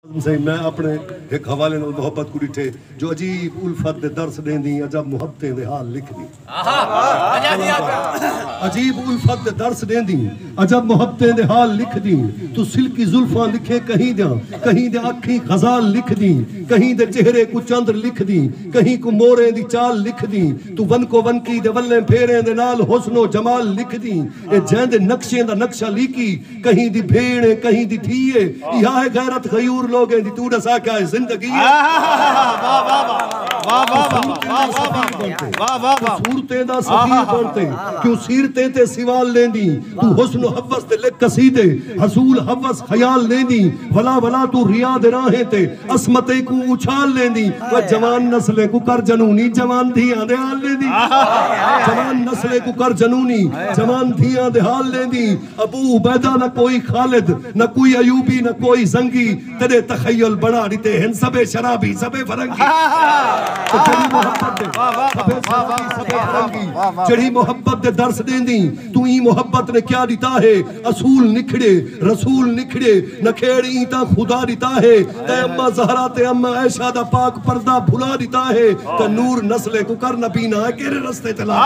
ناظم سئیں میں اپݨے ہک حوالے نال محبت کوں ݙٹھے جو عجیب الفت دے درس ݙیندیں عجب محبتیں دے حال لکھدیں عجیب الفت دے درس ݙیندیں عجب محبتیں دے حال لکھدیں توں سلکی زلفاں لکھے کہیں دیاں کہیں دے اکھیں غزال لکھدیں کہیں دے چہرے کوں چندر لکھدیں کہیں کوں موریں دی چال لکھدیں توں ونکو ونکی دے ولیں پھیریں دے نال حسن و جمال لکھدیں اے جیندے نقشیں دا نقشہ لیکی کہیں دی بھیݨ ہے کہیں دی دھی ہے ایہا ہے غیرت غیور لوگیں دی توں ݙسا کیا ہے زندگی ہے صورتیں دا سفیر بنتے کیوں سیرتیں تے سوال لیندی تو حسن و حوث تے لکھ قصیدے حصول حوث خیال لیندی بھلا بھلا تو ریا دے راہیں تے عصمتیں کو اچھال لیندی وہ جوان نسلیں کو کر جنونی جوان دھیاں دے حال لیندی جوان نسلیں کو کر جنونی جوان دھیاں دے حال لیندی ابو عبیدہ نہ کوئی خالد نہ کوئی ایوبی نہ کوئی زنگی تیڈے تخیل بنا ڈتے ہن سبھے شرابی سبھے فرنگی او جیڑھی محبت دے سبھے شرابی سبھے فرنگی جیڑھی محبت دے درس ڈیندیں توں ایں محبت نے کیا ڈتا ہے اصول نکھڑے رسول نکھڑے نکھیڑ ایں تاں خدا ڈتا ہے تیں اماں زہرا تے اماں عائشہ دا پاک پردہ بھلا ݙتا ہے تاں نور نسلیں کوں کر نبینا اے کیڑھے رستے تے لا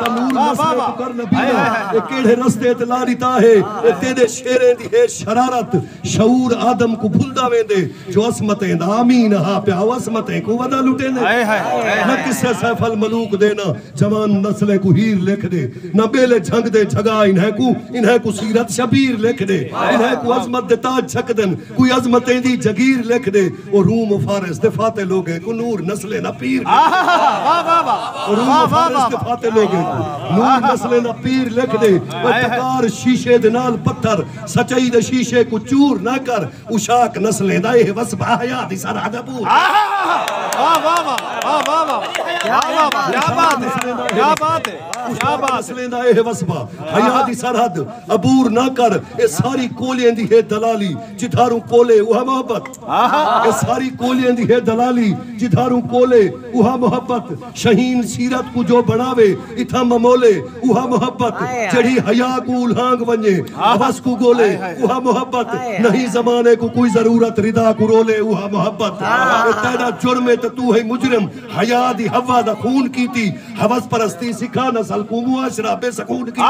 تاں نور نسلیں کوں کر نبینا اے کیڑھے رستے تے لا ݙتا ہے اے تیڈے شعریں دی ہے شرارت شعور آدم کوں بھلدا ویندے جو عصمتیں دا آمین ہا پیا او عصمتیں کوں ودا لٹیندے نہ قصے سیف الملوک دے نہ جوان نسلیں کوں ہیر لکھ ݙے نہ ٻیلے جھنگ دے جھڳا انھیں کوں انھیں کوں سیرت شبیر لکھ ݙے انھیں کوں عظمت دے تاج چھکدن کوئی عظمتیں دی جگیر لکھ ݙے او روم و فارس دے فاتح لوگیں کوں نور نسلیں دا پیر لکھ ݙے روم و فارس دے فاتح لوگیں کوں نور نسلیں دا پیر لکھ ݙے او ٹکار شیشے دے نال پتھر سچائی دے شیشے کوں چور نہ کر پوشاک نسلیں دا ایہ وسبہ حیاء دی سرحد ہے پور ہاں ہاں ہاں واہ واہ واہ واہ واہ کیا بات ہے کیا بات ہے کیا بات نسلیں دا ایہ وسبہ حیاء دی سرحد عبور نہ کر اے ساری کولیں دی ہے دلالی جدھاروں کولے اوہ محبت اے ساری کولیں دی ہے دلالی جدھاروں کولے اوہ محبت شہین سیرت کوں جو بنڑاوے اتھاں ممولے اوہا محبت جیڑھی حیا کوں الہانگ ونجے حوس کوں گولے اوہا محبت نہیں زمانے کوں کوئی ضرورت ردا کوں رولے اوہا محبت او تیڈا جرم ہے تے تو ہیں مجرم حیا دی حوا دا خون کیتی حوس پرستی سکھا نسل کوں معاشرہ بے سکون کیتی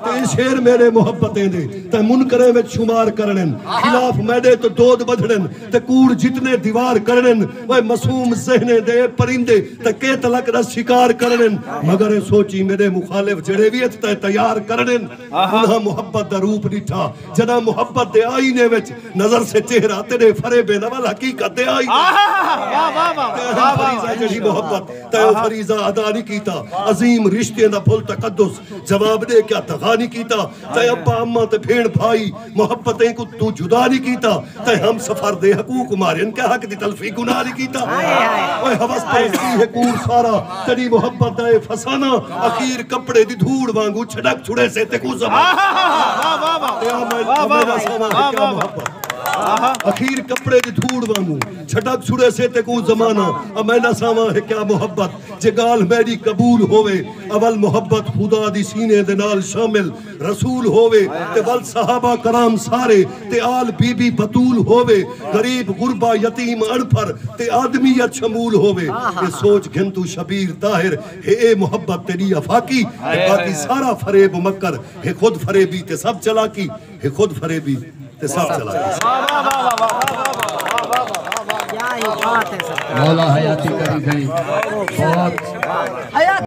تے شعر میڈے محبتیں دے تے منکریں وچ شمار کرنن خلاف میڈے تو دود بدھڑن تے کوڑ جتنے دیوار کرنن اوئے معصوم ذہنیں دے اے پرندے تاں کے تلک دا شکار کرنن مگر اے سوچی میڈے مخالف جیڑھے وی اچ تاں تیار کرنن انہاں محبت دا روپ ڈٹھا جڈاں محبت دے آئینے وچ نظر سے چہرہ تیڈے فرے بے نول حقیقت دے آئینے تیہاں فریضہ جیڑھی محبت تیہاں فریضہ ادا نی کیتا عظیم رشتیں دا پھل تقدس جواب دے کیا دغا نی کیتا تیں اپاں اماں تے بھیݨ بھائی محبتیں کوں توں جدا نی کیتا تیں ہم سفر دے حقوق مارین کیا حق دی تلفی گناہ نی کیتا اوئے حوث پرستی ہے کور سارا تیری محبت دا اے فسانہ اخیر کپڑے دی دھوڑ وانگو چھڑک چھڑے سے تے کوں زمان اخیر کپڑے دی دھوڑ وانگو چھڑک چھڑے سے تے کوں زمانہ امینا ساما ہے کیا محبت جے گال میری قبول ہوئے اول محبت خدا دی سینے دے نال شامل رسول ہووے تے ول صحابہ کرام سارے تے آل بی بی بتول ہووے غریب غربا یتیم اݨپھر تے آدمیت شمول ہووے اے سوچ گھن توں شبیر طاہر ہے اے محبت تیݙی افاقی تے باقی سارا فریب و مکر ہے خود فریبی تے سب چلاکی ہے خود فریبی تے سب چلاکی۔